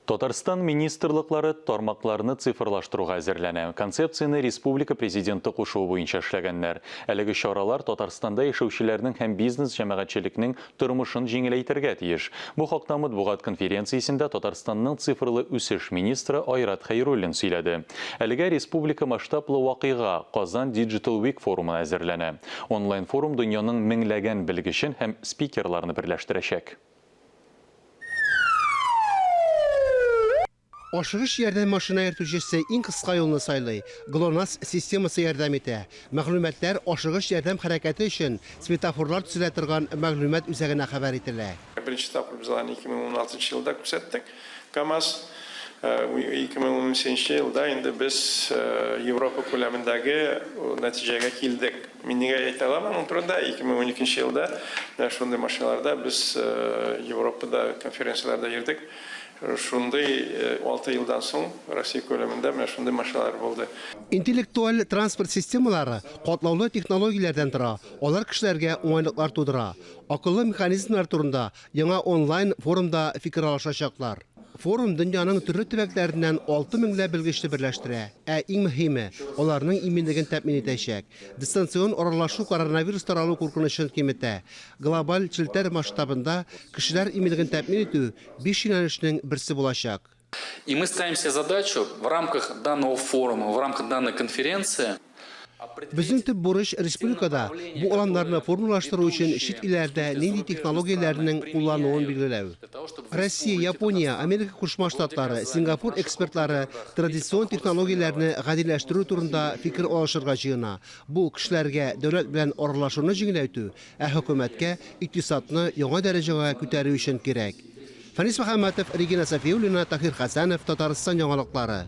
Татарстан министрлыклары тармакларны цифрлаштыруга әзерләнә. Концепцияне республика Президенты кушуы буенча эшләгәннәр. Әлеге чаралар Татарстанда яшәүчеләрнең һәм бизнес-җәмәгатьчелекнең тормышын җиңеләйтергә тиеш. Бу хакта матбугат конференциясендә Татарстанның цифрлы үсеш министры Айрат Хәйруллин сөйләде. Әлегә республика масштаблы вакыйга, Казан Digital Week форумы әзерләнә. Онлайн-форум дөньяның меңләгән белгечен һәм спикерларны берләштерәчәк. Ашыгыч ярдәм машина йөртүчесе иң кыска юлны сайлый, ГЛОНАСС системасы ярдәм итә. Мәгълүматлар ашыгыч ярдәм хәрәкәте өчен светофорлар төзелә торган мәгълүмат үзәгенә хәбәр ителә. Беренче тапкыр без аны 2016 елда күрсәттек. Камаз 2018 нче елда инде без Европа күләмендәге нәтиҗәгә килдек. Мин нигә әйтә алам моның турында? 2012 нче елда менә шундый машиналарда без Европада конференцияләрдә йөрдек. Шундый 6 елдан соң Россия күләмендә менә шундый машиналар булды. Интеллектуаль транспорт системалары катлаулы технологияләрдән тора, алар кешеләргә уңайлыклар тудыра. Акыллы механизмнар турында Яңа онлайн форумда фикер алышачаклар. Форум дөньяның төрле төбәкләреннән алты меңләп белгечне берләштерә, ә иң мөһиме, аларның иминлеген тәэмин итәчәк. Дистанцион аралашу коронавирус таралу куркынычын киметә. Глобаль челтәр масштабында кешеләр иминлеген тәэмин итү биш юнәлешнең берсе булачак. И мы ставим себе задачу в рамках данного форума, в рамках данной конференции определить Безнең төп бурыч республикада бу аланнарны формалаштыру өчен чит илләрдә нинди технологияләрнең куллануын билгеләү. Россия, Япония, Америка Кушма Штатлары, Сингапур экспертлары традицион технологияләрне гадиләштерү турында фикер алышырга җыена, бу, кешеләргә дәүләт белән аралашуны җиңеләйтү, ә хөкүмәткә икътисадны яңа дәрәҗәгә күтәрү өчен кирәк. Фәнис Мөхәммәтов, Регина Сафиуллина, Таһир Хәсәнов, Татарстан яңалыклары.